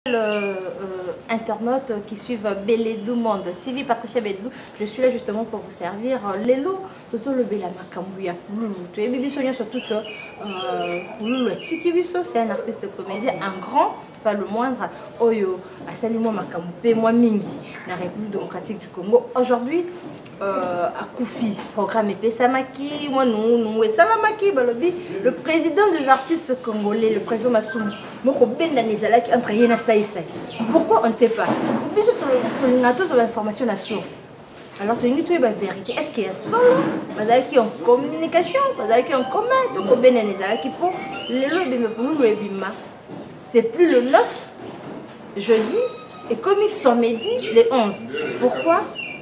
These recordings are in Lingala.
Euh, euh, internautes qui suivent Beledou Monde TV, Patricia Beledou, je suis là justement pour vous servir. Lelo, tozo le bela makambu ya Pululu. Tu es bibiso nyo surtout que euh, Pululu atiki biso, c'est un artiste comédien, un grand, pas le moindre, oyo asali moi makambu pe moi mingi na République démocratique du Congo. Aujourd'hui, euh, akufi programme epesamaki mwa nungu nungu esalamaki balobi le président des artistes congolais le président Masumbu moko bendana ezalaki entre ye na saisai pourquoi on ne sait pas biso tolinga tozwa bainformation na source alors tolingi toyeba vérité est ce que ya solo bazalaki en communication bazalaki en commun tokobendana ezalaki mpo lelo ebima pululu ebima c'est plus le 9 jeudi ekomi samedi le 11 pourquoi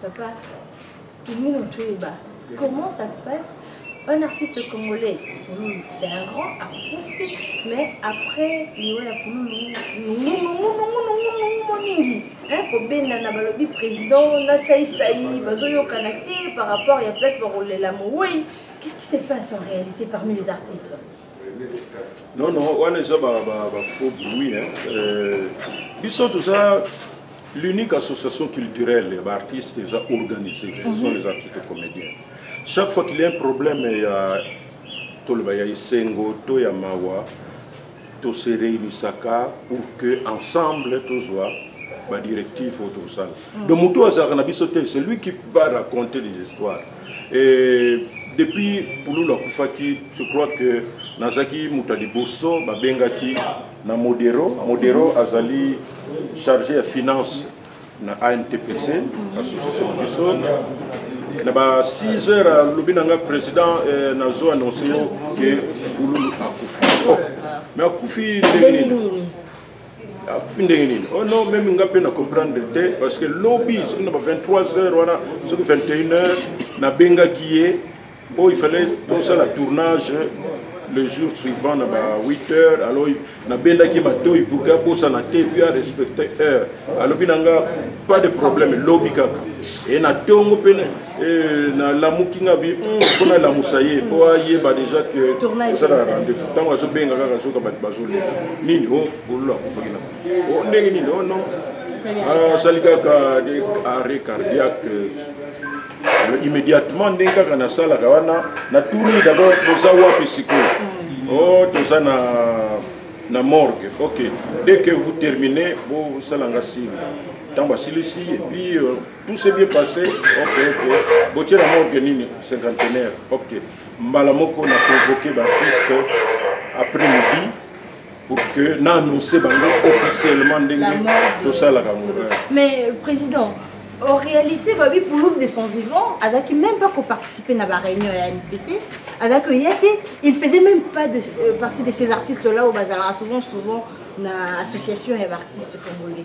Papa, Tumino Tuiba, comment ça se passe un artiste congolais, Pouloulou, c'est un grand akufi, mais après, il y a Pouloulou, mingi hein, kobenda na balobi président na saisai bazoyokana te par rapport ya place bakolela mowei qu'est ce qui se passe en réalité parmi les artistes non non wana eza bafaux bruit euh, biso toza l'unique association culturelle ya baartiste eza organisé ce sont les artistes comédiens chaque fois qu'il y a un problème ya toloba ya esengo to ya mawa tose réunissaka pour que ensemble tozwa badirective oyo tosala donc motu azalaka na biso te celui qui va raconter les histoires Et depuis Pululu akufaki, je crois que nazaki moto ya liboso babengaki na Modero. Modero azali chargé ya finance na ANTPC, association na biso. Na ba 6 heures alobi na ngai président eh, nazo annonce yo ke Pululu akufi. Oh, mais akufi ndenge nini? akufi ah, ndenge nini oh non meme nga mpe na comprendre te parce que lobi soki na ba 23 heures wana soki 21 heures nabengaki ye mpo il fallait tosala tournage le jour suivant na ba 8 heures alors nabendaki matoi pour ke abosana te puis arespecte heure alobi na nga pas de problème lobi kaka e na ntongo mpe Eh, nalamuki nga bi mpo hmm, nalamusa ye mpo ayeba déjà ke oza na rendez-vous ntango azobenga kaka azoka bato bazolela nini o oh, bololo akufaki na o oh, ndenge nini o oh, non ah, asali kaka arrêt cardiaque euh, immédiatement ndenge kaka nasalaka wana natuni d'abord boza wapi sikoyo hmm. o toza na na morgue ok dès que vous terminez bosala nga signe ntango asilisi epuis euh, tout s'est bien passé ok ok botiela morgue nini cinquantenaire ok mbala moko na convoqué baartiste après midi pour que na annonce bango officiellement ndenge tosalaka morin mais président en réalité babi pulum de son vivant azalaki même pas koparticiper na baréunion ya npc azalaki oya te il faisait même pas de, euh, partie de ces artistes là oyo bazalaka souvent souvent na association ya baartiste congolais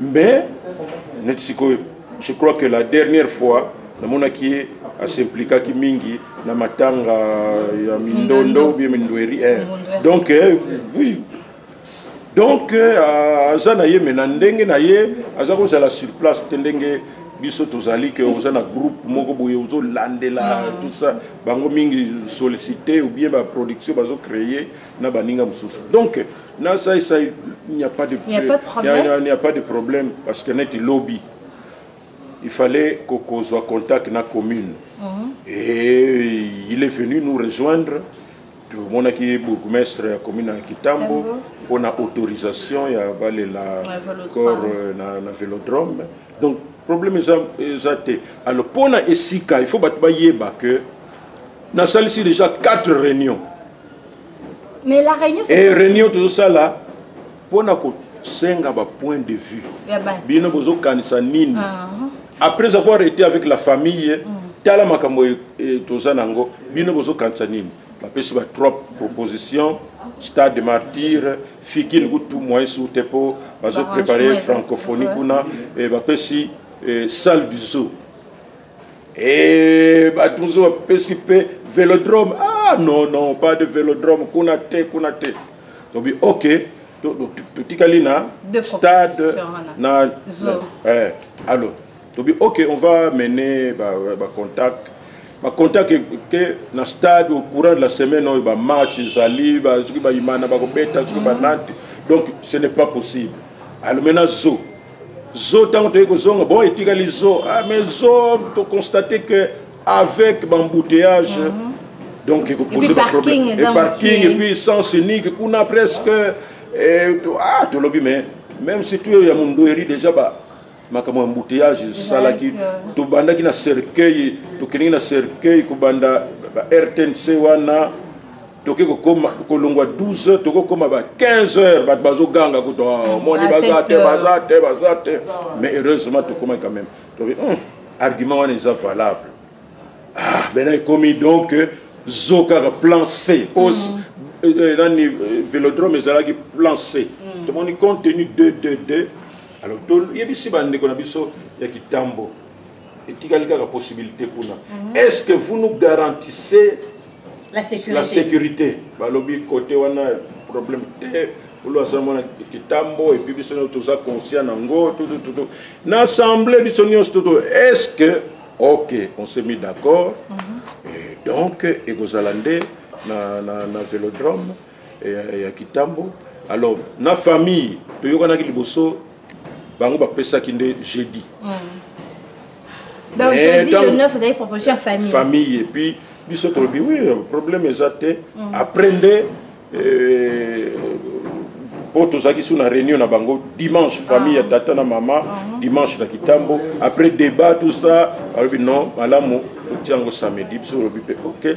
mais neti sikoyo je crois que la dernière fois namonaki ye asimplikaki mingi na matanga ya mindondo bie mindweri eh. donc eh, oui donc euh, aza na ye me na ndenge na ye aza kozala sur place te ndenge biso tozali ke oza na groupe moko boye ozolandela ah. tout ça bango mingi sollicité ou bien baproduction bazocreye na baninga mosusu donc na saisai il n'y a pas de il n'y a pas de problème parce que neti lobi il fallait kokozwa contact na commune mm -hmm. et il est venu nous rejoindre tomonaki ye bourgmestre ya commune ya kitambo mpo na autorisation ya balela corps euh, na, na vélodrome donc problème eza, eza te alors mpo na esika il faut bato bayeba que nasalisi déjà 4 réunions mais la réunion et eh, réunion tozosala mpona kosenga bapoint de vue bino bozokanisa nini ah. après avoir été avec la famille mm. tala makambo e, e, toza na yango bino bozokanisa nini bapesi ba trois proposition stade martyr fikini kutu moyen sur te mpo bazoprépare francophonie kuna bapesi salle du zoo Eh, bato mosusu bapesi mpe velodrome ah non non pas de velodrome kuna te kuna te tobi ok totikali na stade na eh, alors tobi ok on va mener bacontact ba bacontact ke na stade au courant de la semaine oyo bamatch ezali soki bayimana bakobeta soki banante donc ce n'est pas possible alors maintenant zo zo ntango toyei kozonga bon etikali zo ah, mais zo toconstate que avec bambouteillage mm -hmm. donc ekopoze baproblème eparking epuis sens unique kuna presque eh, to, ah tolobi mais même si tuyo ya mondoeri déjà ba makambo ya embouteillage esalaki euh, tobandaki na cercueil tokendeki na cercueil kobanda ba rtnc wana toke kokoma kolongwa 12 heures tokokoma ba 15 heures bato bazoganga kutu ah, omoni ah, baza te baza te baza te mais heureusement tokomaki quand même tobi hmm, argument wana eza valable ah bena ekomi donc euh, zo kaka plan c po hmm. euh, euh, nani vélodrome ezalaki plan c hmm. tomoni compte tenu 2 2 2 alors toyebisi bandeko na biso ya kitambo etikali kaka possibilité kuna est ce que vous nous garantissez la sécurité, la sécurité. balobi kote wana problème te polo aza mwana kitambo epuis biso nyonso toza conscient na ngo tutututu na assemblée biso nyonso tutu est ce que ok on s'est mis d'accord mm -hmm. et donc ekozala nde na, na, na velodrome ya, ya kitambo alors na famille toyokanaki liboso bango bapesaki nde jeudi mm. donc jeudi le 9 vous avez proposé à famille famille et puis biso tolobi oui problème eza te mm. après nde euh, mpo tozalaki su na réunion na bango dimanche famille ya ah. tata na mama ah. dimanche na kitambo après débat tout ça alobi non malamu totiango samedi biso olobi mpe ok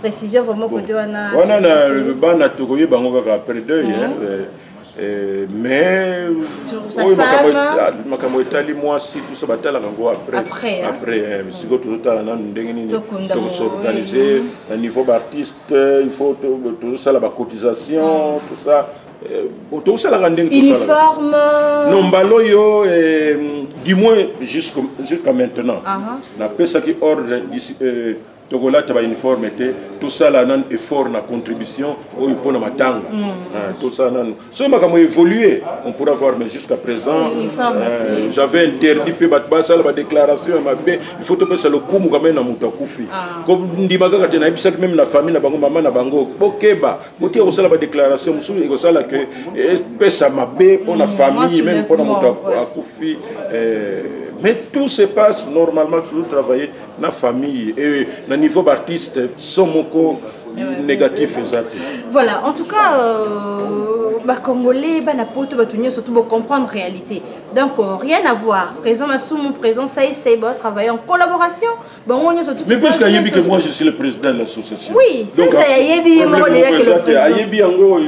précision vraiment côté wana wana na bana tokoye bango kaka après deuil hein mhm. euh, euh, mais oyo makambo etali mwasi tuso batalaka yango après après hein. mhm. sikoyo tozotala nanu ndenge nini tokosorganize na niveau baartiste il faut tozosala bacotisation mhm. tout ça euh, tokosalaka ndenge uniforme non mbala oyo du moins jusqu'à maintenant napesaki ordre tokolata ba uniforme te tosala nanu effort na contribution oyo mpo na matango mm. ah, tosala nanu soki makambo évolue on pourra voir mais jusqu'à présent euh, j'avais interdit mpe bato basala badéclaration ya mabe il faut topesa lokumu kamai na moto akufi ah. kondima kaka te nayebisaki meme na famille na bango mama na bango bokeba botika kosala badéclaration mosusu ekosala ke epesa mabe mpo na mm, famille meme mpo na moto akufi euh, mais tout se passe normalement toujours travailler na famille et na niveau d'artiste so moko négatif eza te voilà en tout cas euh, bacongolais bana poto bato nyonso to bocomprendre réalité donc euh, rien à voir présent masumu présent saisai batravaille en collaboration bango nyonso mais puisque ayebi que moi je suis le président de l'association oui saisai ayebi ye moko déjà que le président ayebi yango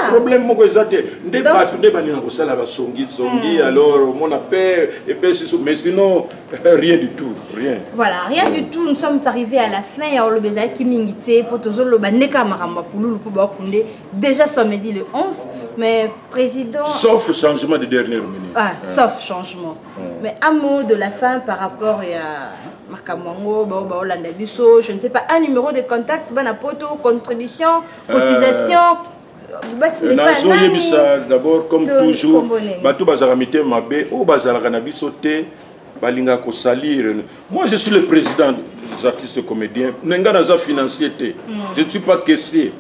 problème moko eza te nde bato nde balinga kosala basongisongi alors omona pe epesi mais sinon rien du tout rien voilà rien du tout nous sommes arrivés à la fin ya oloba ezalaki mingi te mpo tozoloba nde kaka makambo ya pululu mpo bakunde déjà samedi le 11 mais président sauf changement de dernière minute ah, hein. sauf changement hein. mais un mot de la fin par rapport ya makambo yango bao baolanda biso je ne sais pas un numéro de contact bana poto contribution euh, cotisation euh... nazoyebisa d'abord comme toujours bato bazalaka mitema mabe oyo bazalaka na biso te balinga kosalire moi je suis le président des artistes comédiens me ngai naza financier te hmm. je ne suis pas caissier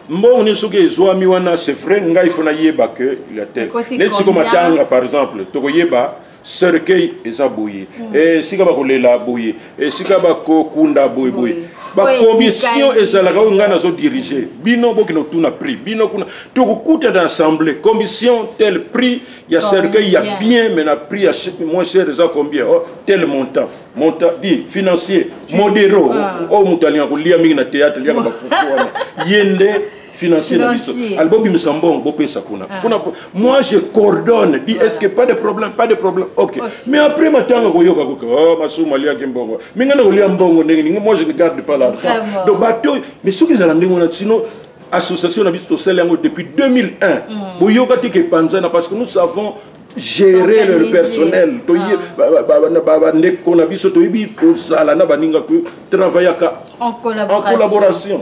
mbongo nini soki ezwami wana c'est vrai ngai fo nayeba que il ya tel neti siko matanga par exemple tokoyeba cercueil eza boye mm. eh, esika bakolela boye eh, esika bakokunda boye boye bakomission ezalaka oyo ngai nazo dirige bino bokende otuna prix bino kuna tokokuta na assemblée commission tel prix ya cercueil ya bien mais na prix ya moins cher eza combien oh, tel montant montant di financier modero oyo oh, moto alinga kolia mingi na théâtre liaka bafufu wana ye nde financier na biso ali bobimisa mbongo bopesa kuna ah. kuna moi je coordonne dit est ce que pas de problème pas de problème ok mais après matanga koyoka koke oh, masumu aliaki mbongo mi ngai nakolia mbongo ndenge ningi moi je ne garde pas l'argent donc bato mais soki ezala ndenge wana sinon association na biso tosali yango depuis 2001 mm. boyoka te ke panzana parce que nous savons gérer leur personnel ah. bandeko na biso toyebi kozala na baninga totravaillaka en collaboration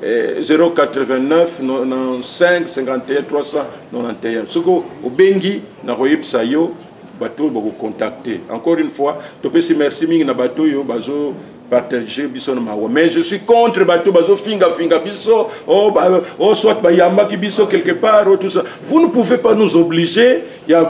089 95 51 391 soki obengi nakoyebisa yo bato oyo bakocontacte encore une fois topesi merci mingi na bato oyo bazo partage biso na mawa mais je suis contre bato bazofingafinga biso oh, ba, oh, soit bayambaki biso quelque part oh, tout ça vous ne pouvez pas nous obliger ya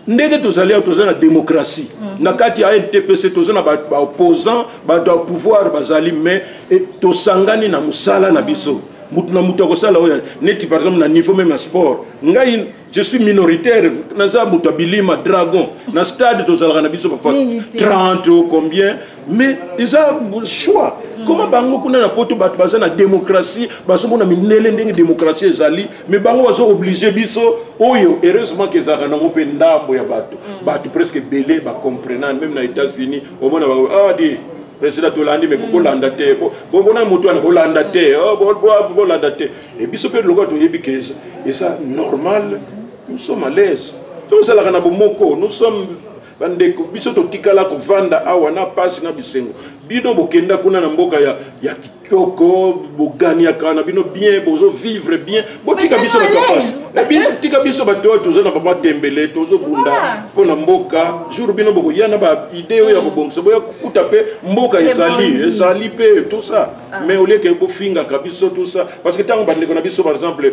ndenge tozali awa toza na démocratie mm. na kati ya edpc toza na baopposant bato ya pouvoir bazali mais e, tosangani na mosala na biso moto na moto akosala oyo neti par exemple na niveau meme ya sport ngai je suis minoritaire naza moto ya bilima dragon na stade tozalaka na biso bafa 30 o combien mais eza choix mm. koma bango kuna na poto bato baza na démocratie bazomona mindele ndenge démocratie ezali mais bango bazo oblige biso oyo heureusement ke ezalaka nango mpe ndambo ya bato mm. bato presque ebele bacomprenan meme na états-unis omona bango ah, di président tolandi me mm. bolanda te bona motu wana bolanda te oh, bolanda te e biso mpe lokola toyebi ke eza normal nous sommes à l'aise tosalaka na bomoko nous sommes bandeko biso totikala kovanda awa na mpasi na bisengo bino bokenda kuna na mboka ya, ya kitoko boganiaka na bino bien bozovivre bien botika biso bato ya mpasi eh, biso tika biso bato oyo toza na bamatembele tozobunda mpo na mboka jour bino bokoya na baide oyo ya kobongisa boya kokuta mpe mboka ezali ezali mpe tout ça ah. mais olieke bofingaka biso tout ça parce que ntango bandeko na biso par exemple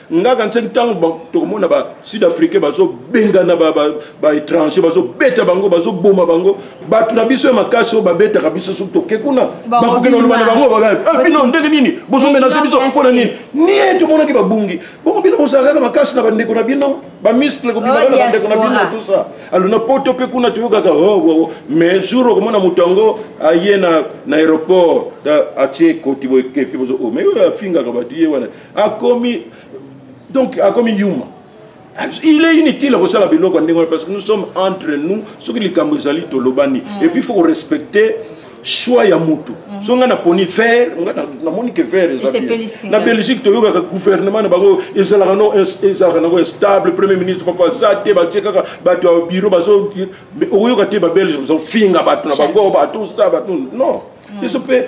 nga kanisaki ntango tokomona ba sud africain bazobengana baétranger bazobeta bango bazoboma bango bato na biso ya makasi oyo babetaka biso soki toke kuna bakokenda koloba na bango ah, bino ndenge nini bozomenase biso mpona nini nie tomonaki babungi bongo bino bozalaka kaka makasi na bandeko na bino bamiskle kobimaka na bandeko na bino tout ça alo na poto mpe kuna toyokaka oh, oh, oh. mais jour okomona moto yango aye na aéroport atie koti boye kepi bozo mais oyo afingaka bato ye wana akomi donc akomi yuma il est inutile kosala biloko ndenge wana parce que nous sommes entre nous soki likambo ezali tolobani mm. et puis faut respecter choix ya mutu mm. so ngai naponi vert ngai namoni ke vert eza na belgique toyokaka gouvernement na bango ezalaka no ezalaka nango stable premier ministre parfois aza te batie kaka bato ya biro bazo okoyoka te babelge bazofinga bato na bango bato sa bato non biso mm. mpe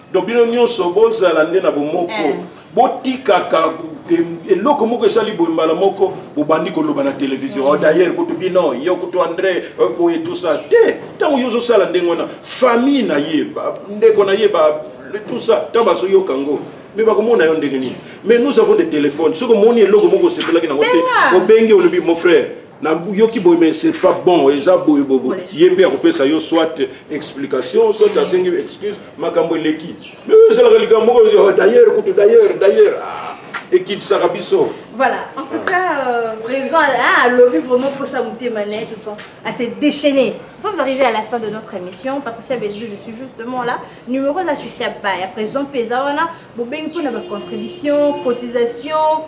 donc bino nyonso bozala nde na bomoko eh. botikaka eloko moko esali boye mbala moko bobandi koloba na televizio oh, dailleurs kutu bino yo kutu andre euh, boye tusa te ntango yo ozosala ndenge wana famille na ye ndeko na ye tusa ntango bazoyoka yango me bakomona yo ndenge nini mais nous avons des téléphones soki omoni eloko moko osepelaki nango te obengi olobi mon frère nayoki boye mais c'est pas bon eza boye bobo ye mpe akopesa yo soit explication soit asengi excuse makambo eleki mais oyo ezalaka likambo moko oh, d'ailleurs kutu d'ailleurs d'ailleurs ah, ekitisaka biso voilà en tout cas euh, président ah, alobi vraiment mposa motema na ye tout son assez déchaîné nous sommes arrivés à la fin de notre émission patricia beldu je suis justement là numéro d'affiche ya baya président mpe eza wana bobengi mpo na bacontribution cotisation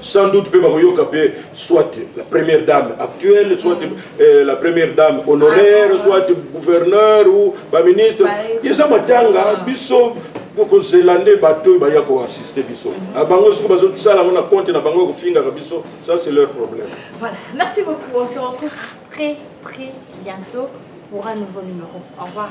sans doute mpe bakoyoka mpe soit la première dame actuelle soit mm. euh, la première dame honoraire ah, soit gouverneur ou baministre eza matanga ah. biso tokozela nde bato oyo baya koassiste biso mm-hmm. ah, bango soki bazosala yango na compte na bango ya kofingaka biso ça c'est leur problème voilà merci beaucoup on se retrouve très très bientôt pour un nouveau numéro au revoir